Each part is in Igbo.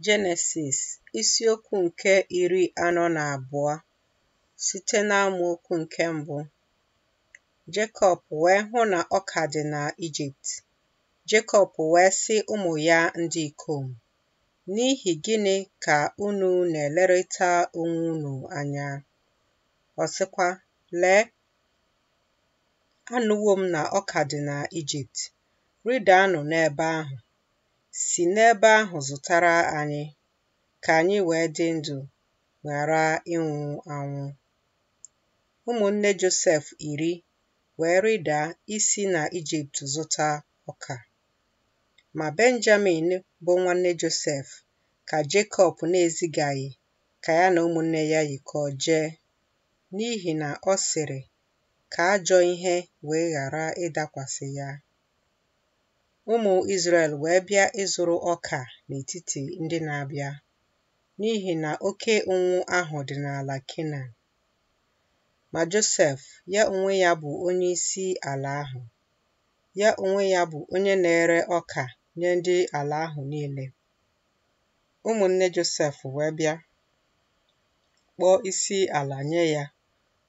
Jenesis isiokwu nke iri anọ na abụọ site n'amaokwu nke mbụ Jekọb wee hụ na ọka dị na Ijipt Jekọb wee sị ụmụ ya ndị ikom n'ihi gịnị ka unu na-elerịta onwe unu anya ọ sịkwa lee anụwo m na ọka dị na Ijipt Rịdaanụ n'ebe ahụ, si n'ebe ahụ zụtara anyị, ka anyị wee dị ndụ ghara ịnwụ anwụ. Ụmụnne Josef iri wee rịda isi na Ijipt zụta ọka. Ma Benjamin bụ nwanne Josef ka Jekọb na-ezigaghị ka ya na ụmụnne ya yikọọ jee, n'ihi na ọ sịrị, ka ajọ ihe wee ghara ịdakwasị ya. Ụmụ Izrel wee bịa ịzụrụ ọka n'etiti ndị na-abịa, n'ihi na oke ụnwụ ahụ dị n'ala Kenan. Ma Josef, ya onwe ya bụ onye isi ala ahụ, ya onwe ya bụ onye na-ere ọka nye ndị ala ahụ niile. Ụmụnne Josef wee bịa kpọọ isi ala nye ya,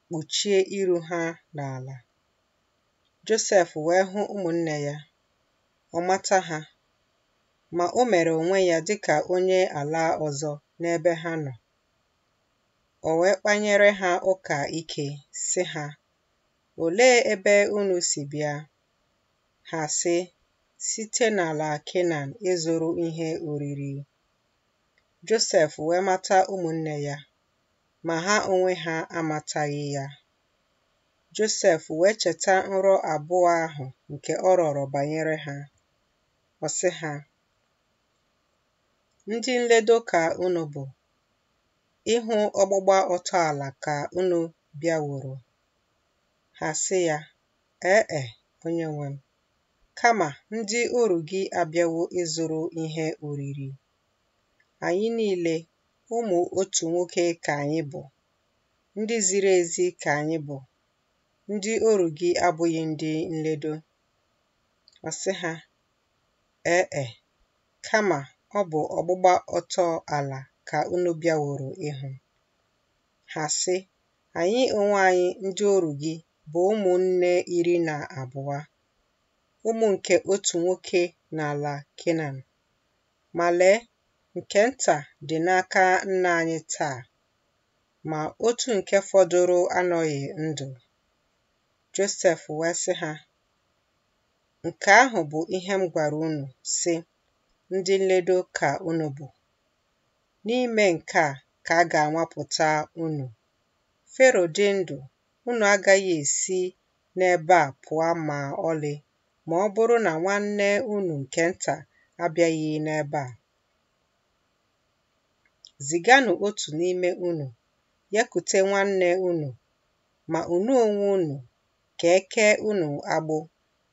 kpuchie iru ha n'ala. Josef wee hụ ụmụnne ya, ọ mata ha, ma o mere onwe ya dị ka onye ala ọzọ n'ebe ha nọ. O wee kpanyere ha ụka ike, sị ha, Olee ebe unu si bịa? Ha sị, Site n'ala Kenan ịzụrụ ihe oriri. Josef wee mata ụmụnne ya, ma ha onwe ha amataghị ya. Josef wee cheta nrọ abụọ ahụ nke ọ rọrọ banyere ha. Ọ sị ha, Ndị nledo ka unu bụ, ịhụ ọgbụgba ọtọ ala ka unu bịaworo. Ha sị ya, Ee e, onye nwe m, kama ndị oru gị abịawo ịzụrụ ihe oriri. Anyị niile, ụmụ otu nwoke ka anyị bụ, ndị ziri ezi ka anyị bụ, ndị oru gị abụghị ndị nledo. Ọ sị ha, Ee e, kama ọ bụ ọgbụgba ọtọ ala ka unu bịaworo ịhụ. Ha sị, Anyị onwe anyị ndị oru gị bụ ụmụnne iri na abụọ, ụmụ nke otu nwoke n'ala Kenan. Ma lee, nke nta dị n'aka nna anyị taa, ma otu nke fọdụrụ anọghị ndụ. Josef wee sị ha, Nke ahụ bụ ihe m gwara unu, sị, Ndị nledo ka unu bụ. N'ime nke a ka a ga-anwapụta unu. Fero dị ndụ, unu agaghị esi n'ebe a pụa ma ọlị ma ọ bụrụ na nwanne unu nke nta abịaghị n'ebe a. Ziganụ otu n'ime unu ya kute nwanne unu, ma unu onwe unu ka e kee unu agbụ,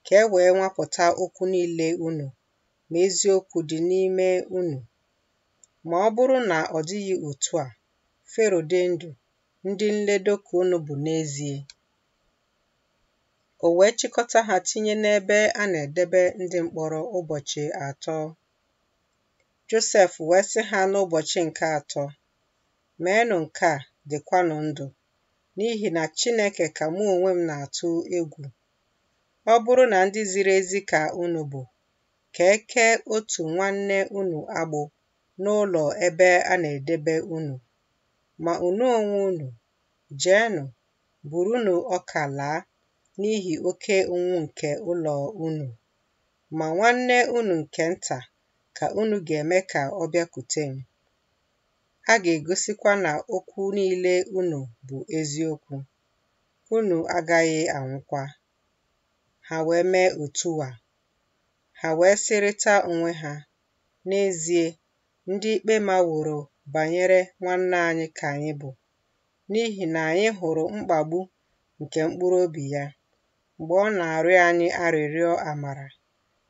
ka e wee nwapụta okwu niile unu, ma eziokwu dị n'ime unu. Ma ọ bụrụ na ọ dịghị otu a, Fero dị ndụ, ndị nledo ka unu bụ n'ezie. O wee chịkọta ha tinye n'ebe a na-edebe ndị mkpọrọ ụbọchị atọ. Josef wee sị ha n'ụbọchị nke atọ, Meenụ nke a, dịkwanụ ndụ, n'ihi na Chineke ka mụ onwe m na-atụ egwu. Ọ bụrụ na ndị ziri ezi ka unu bụ, ka e kee otu nwanne unu agbụ n'ụlọ ebe a na-edebe unu, ma unu onwe unu Jeenụ, burunu ọka laa n'ihi oke ụnwụ nke ụlọ unu. Ma nwanne unu nke nta ka unu ga-eme ka ọ bịakwute m. A ga-egosikwa na okwu niile unu bụ eziokwu. Unu agaghị anwụkwa. Ha wee mee otu a. Ha wee sịrịta onwe ha, N'ezie, ndị ikpe maworo banyere nwanna anyị ka anyị bụ, n'ihi na anyị hụrụ mkpagbu nke mkpụrụ obi ya mgbe ọ na-arịọ anyị arịrịọ amara,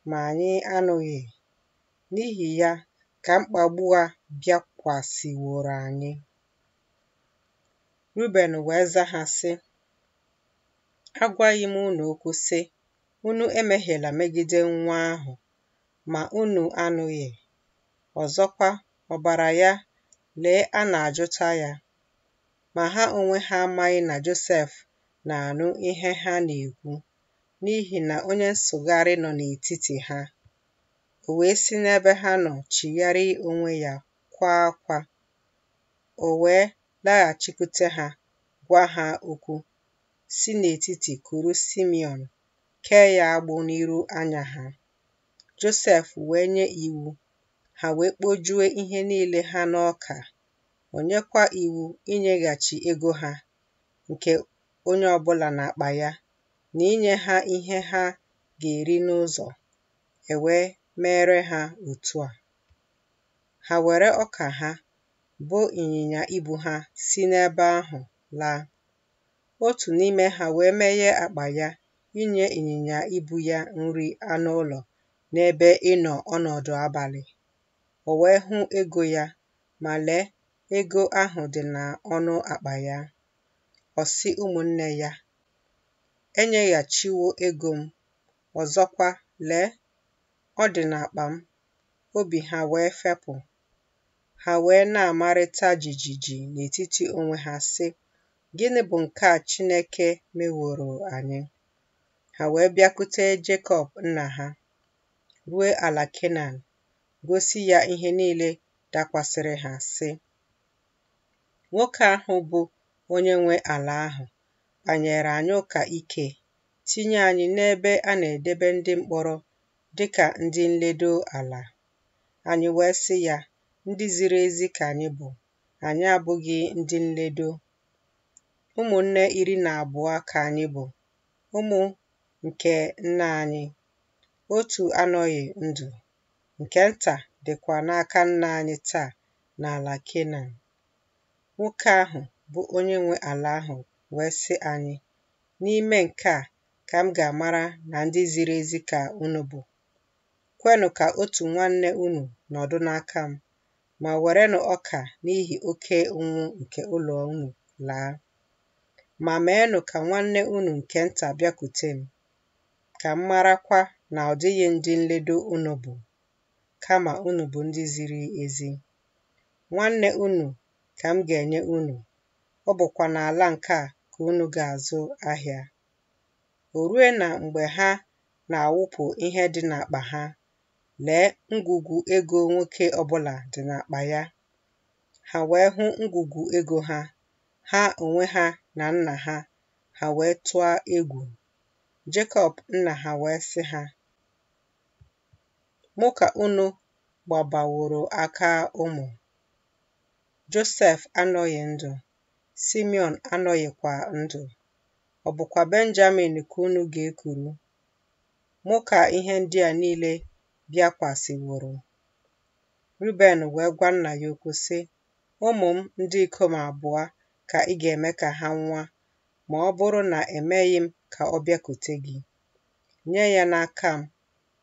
ma anyị anụghị. N'ihi ya ka mkpagbu a bịakwasịworo anyị. Ruben wee za ha sị, Agwaghị m unu okwu sị, Unu emehiela megide nwa ahụ, ma unu anụghị. Ọzọkwa, ọbara ya, lee a na-ajụta ya. Ma ha onwe ha amaghị na Josef na-anụ ihe ha na-ekwu, n'ihi na onye nsụgharị nọ n'etiti ha. O wee si n'ebe ha nọ chigharịa onwe ya kwaa akwa. O wee laghachikwute ha, gwa ha okwu, si n'etiti kuru Simiọn, kee ya agbụ n'iru anya ha. Josef wee nye iwu, ha wee kpojue ihe niile ha n'ọka, o nyekwa iwu inyeghachi ego ha nke onye ọbụla n'akpa ya, na inye ha ihe ha ga-eri n'ụzọ, e wee meere ha otu a. Ha were ọka ha, bo ịnyịnya ibu ha, si n'ebe ahụ laa. Otu n'ime ha wee meghe akpa ya inye ịnyịnya ibu ya nri anụ ụlọ n'ebe ịnọ ọnọdụ abalị. O wee hụ ego ya, ma lee, ego ahụ dị n'ọnụ akpa ya. Ọ sị ụmụnne ya, Enyeghachiwo ego m, ọzọkwa, lee, ọ dị n'akpa m. Obi ha wee fepụ, Ha wee na-amarịta jijiji n'etiti onwe ha sị, Gịnị bụ nke a Chineke meworo anyị? Ha wee bịakute Jekọb nna ha, rue ala Kenan, gosi ya ihe niile dakwasịrị ha sị, Nwoke ahụ bụ onye nwe ala ahụ kpanyere anyị ụka ike, tinye anyị n'ebe a na-edebe ndị mkpọrọ dịka ndị nledo ala. Anyị wee sị ya, Ndị ziri ezi ka anyị bụ, anyị abụghị ndị nledo. Ụmụnne iri na abụọ ka anyị bụ, ụmụ nke nna anyị. Otu anọghị ndụ, nke nta dịkwa n'aka nna anyị taa n'ala Kenan. Nwoke ahụ bụ onye nwe ala ahụ wee sị anyị, N'ime nke a ka m ga-amara na ndị ziri ezi ka unu bụ. Kwenụ ka otu nwanne unu nọdụ n'aka m, ma werenụ ọka n'ihi oke ụnwụ nke ụlọ unu laa. Ma meenụ ka nwanne unu nke nta bịakwute m, ka m marakwa na ọ dịghị ndị nledo unu bụ, kama unu bụ ndị ziri ezi. Nwanne unu ka m ga-enye unu, ọ bụkwa n'ala nke a ka unu ga-azụ ahịa. O rue na mgbe ha na-awụpụ ihe dị n'akpa ha, lee ngwugwu ego nwoke ọbụla dị n'akpa ya. Ha wee hụ ngwugwu ego ha, ha onwe ha na nna ha, ha wee tụọ egwu. Jekọb nna ha wee sị ha, Mụ ka unu gbabaworo aka ụmụ. Josef anọghị ndụ, Simeon anọghịkwa ndụ. ọ bụkwa Benjamin ka unu ga-ekuru. Mụ ka ihe ndị a niile bịakwasịworo. Ruben wee gwa nna ya okwu sị, Ụmụ m ndị ikom abụọ ka ị ga-eme ka ha nwụa ma ọ bụrụ na emeghị m ka ọ bịakute gị. Nye ya n'aka m,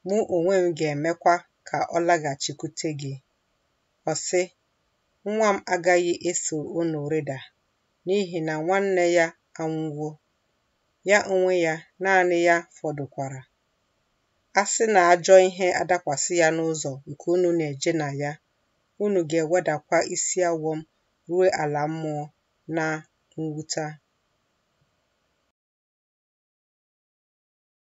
mụ onwe m ga-emekwa ka ọ laghachikwute gị. Ọ sị, Nwa m agaghị eso unu rịda, n'ihi na nwanne ya anwụwo, ya onwe ya naanị ya fọdụkwara. A sị na ajọ ihe adakwasị ya n'ụzọ nke unu na-eje na ya, unu ga-ewedakwa isi awọ m ruo ala mmụọ na mwuta.